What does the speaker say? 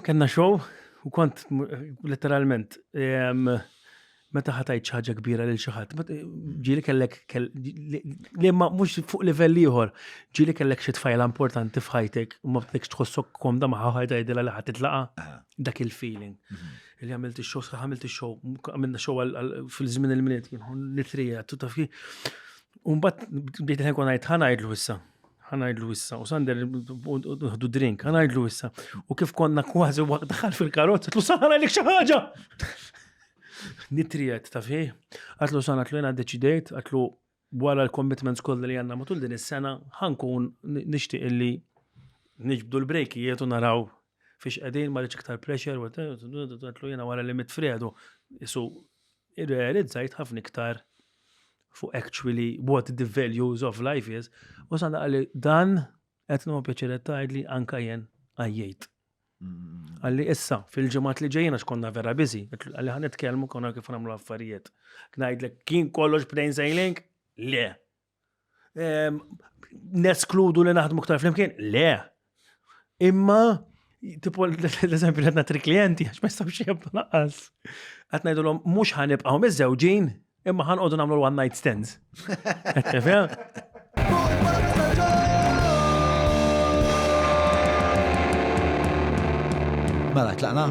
Kenna show u kont letteralment meta ħatajt ħaġa kbira lil xi ħadd, ġieli kellek li ma mhux fuq livell ieħor, ġieli kellek xi tfajla importanti f'ħajtek u ma bdekx tħossok komda ma ħaħaj tgħidilha li ħadd titlaqa' ah. dak il-feeling. Mhm. Li għamilt ix-show, sħaħ għamilt ix-show, għamilna show fil-żmien il-miliet, nitrija, tutta fi. Umbat bdejt ħenkun ngħid ħanajdlu issa. ħanajdlu issa, u Sander uħdu drink, ħanajdlu issa. U kif konna kważi waqt daħal fil-karozza, tlu Sander għalik xi ħaġa! Nitrijet, taf ħi? Għatlu Sander għatlu jena deċidejt, għatlu wara l-commitments kollha li għandna matul din is-sena, ħankun nixtieq illi niġbdu l-brejkijiet u naraw fiex qegħdin ma rridx iktar pressure, għatlu jena wara li mit Fredu, isu irrealizzajt ħafna iktar fuq actually what the values of life is, u sa għalli dan qed nagħmlu pjaċiret tgħid li anka jen għajjejt. Mm. Għalli issa, fil-ġemat li ġejjina xkonna vera bizi, għalli ħan nitkellmu konna kif nagħmlu affarijiet. Ngħidlek kien kollox b'dejn sejlink? Le. neskludu li naħdmu ktar flimkien? Le. Imma, tipo, l-eżempju li tri klienti, għax ma jistabx jibba naqqas. Għat najdu l-om, mux ħanibqaw mizzewġin, imma ħanqodu namlu l-one night stands. Mela, tlaqna?